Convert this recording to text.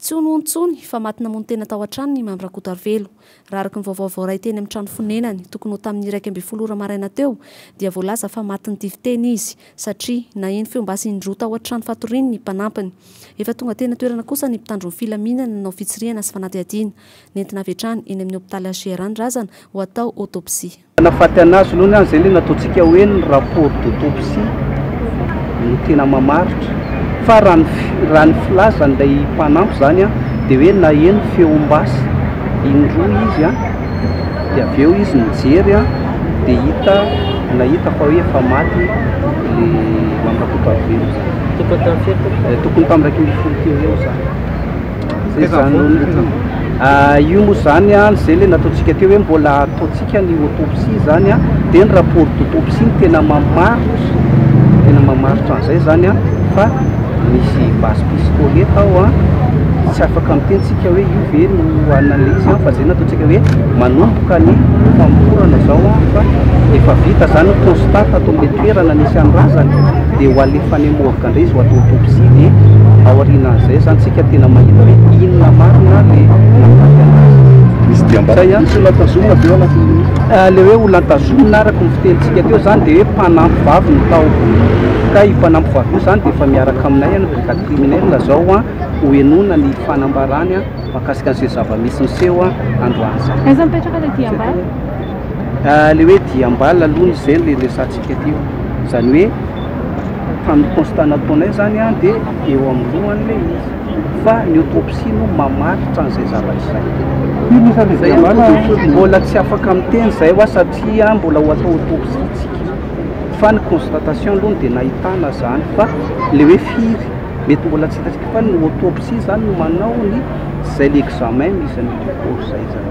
Tsy ho nono intsony fa maty namono tena tao an-tranony i Mamy Rakotoarivelo. Raha araka ny vaovao voaray teny amin'ny trano fonenany, tokony ho tamin'ny iraika ambin'ny folo ora maraina teo, dia voalaza fa maty nitifiteny izy, satria naheno feo basy indroa tao an-trano fatoriany ny mpanampiny. Efa tonga teny an-toerana kosa ny mpitandro ny filaminana nanao fitsirihana sy fanadihadiana. Nentina avy hatrany eny amin'ny hopitaly HJR ny razana ho atao autopsie. Manafaty anazy aloha ny ahy izay ilay nataontsika hoe ny rapport d'autopsie no tena mamaritra fa raha ny raha ny filazan'ilay mpanampy izany an dia hoe naheno feom-basy indroa izy an dia avy eo izy nijery an dia hita nahita fa hoe efa maty ilay Mamy Rakotoarivelo izany tokony tamin'ny iraika ambin'ny folo teo eo izany Zay zany loatra. Ah, io moa zany an, izay le nataontsika teo hoe mbola ataontsika ny autopsie zany an, dia ny rapport d'autopsie no tena mamaritra, tena mamaritra an'izay zany an, fa misy base piscole tao an, tsy afaka miteny tsika hoe io ve no analyse an, fa zay nataontsika hoe manomboka ny famorana zao an, fa efa vita zany ny constat tato amle toerana nisy an'ny razana, dia ho alefan'i MOHG Ary izy ho atao autopsie dia aorianan'izay zany tsika tena mahita hoe inona marina le nahafaty anazy. Misy diam-batana. Izay ihany tsy olantazomina avy eo anatin'ny. Le hoe olantazomina araka ny fitenintsika teo zany dia hoe mpanampy vavy no tao. Ka io mpanampy vavy io zany dia efa miaraka aminay any brigade criminelle zao an, ho henoina ny fanambarany mahakasika an'izay zava-misy niseho androany zay. Aiza mipetraka le diam-bala? Le hoe diam-bala aloha izay no resahantsika teo. Izany hoe. tamin'ny constat nataonay zany an dia eo amin'ny lohany ilay izy fa ny autopsie no mamaritra an'izay zavatra izay. Firy isan'ny Izay an, fikambanana no tojo- mbola tsy afaka miteny izay hoa satria an mbola ho atao autopsie tsika fa ny constatation aloha no dia nahitana izany fa ilay hoe firy mety mbola tsy hitantsika fa ny autopsie izany no manao ny izay ilay examen misy an'io corps izay izany.